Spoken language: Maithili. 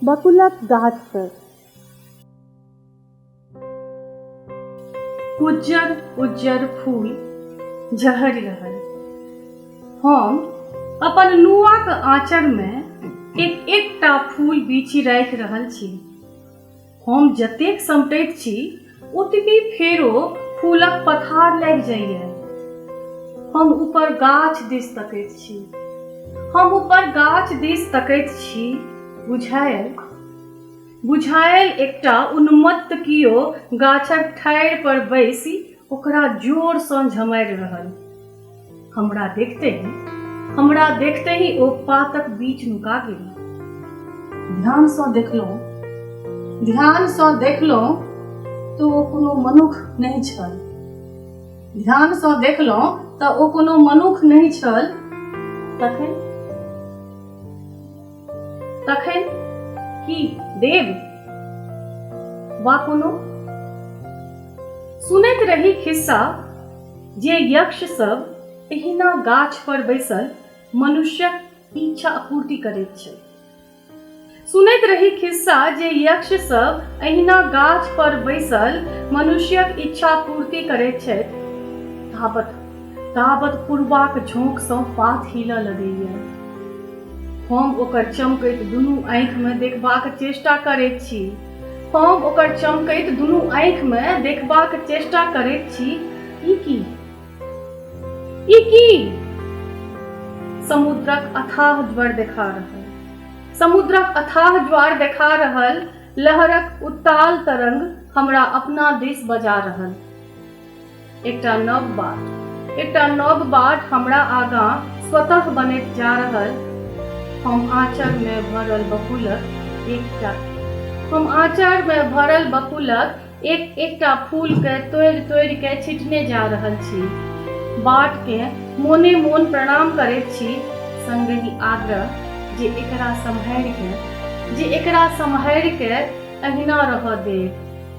बकुलक गाछसँ उज्जर उज्जर फूल झहरि रहल हम अपन नुआक आँचरमे एक एकटा फूल बीछि राखि रहल छी हम जतेक समटैत छी ओतबी फेरो फूलक पथार लागि जाइए हम ऊपर गाछ दिस तकैत छी हम ऊपर गाछ दिस तकैत छी बुझायल बुझायल एकटा उन्मत्त कियो गाछक ठाढ़ि पर बैसि ओकरा जोरसँ झमारि रहल हमरा देखते ही हमरा देखते ही ओ पातक बीच नुका गेल ध्यान से देखलो ध्यान से देखलो तो ओ कोनो मनुख नहीं छल ध्यान से देखलो तो ओ कोनो मनुख नहीं छल तखन तखन की देव वा कोनो सुनैत रही खिस्सा जे यक्ष सब एहिना गाछ पर बैसल मनुष्यक इच्छा आपूर्ति करैत छै सुनैत रही खिस्सा जे यक्ष सब एहिना गाछ पर बैसल मनुष्यक इच्छा पूर्ति करैत छथि ताबत ताबत पूर्वाक झोंकसँ पात हिलऽ लगैए हम ओकर चमकैत दुनू आँखिमे देखबाक चेष्टा करैत छी हम ओकर चमकैत दुनू आँखि मे देखबाक चेष्टा करैत छी ई की ई की समुद्रक अथाह ज्वर देखा रहल समुद्रक अथाह ज्वार देखा रहल लहरक उत्ताल तरंग हमरा अपना दिस बजा रहल एकटा नव बाट एकटा नव बाट हमरा आगाँ स्वतः बनैत जा रहल हम आँचरमे भरल बकुलक एकटा हम आँचरमे भरल बकुलक एक एकटा फूलके तोड़ि तोड़ि के छिटने जा रहल छी बाटके मोने मोन प्रणाम करैत छी संगहि आग्रह जे एकरा सम्हारिके जे एकरा सम्हारिके अहिना रहऽ देब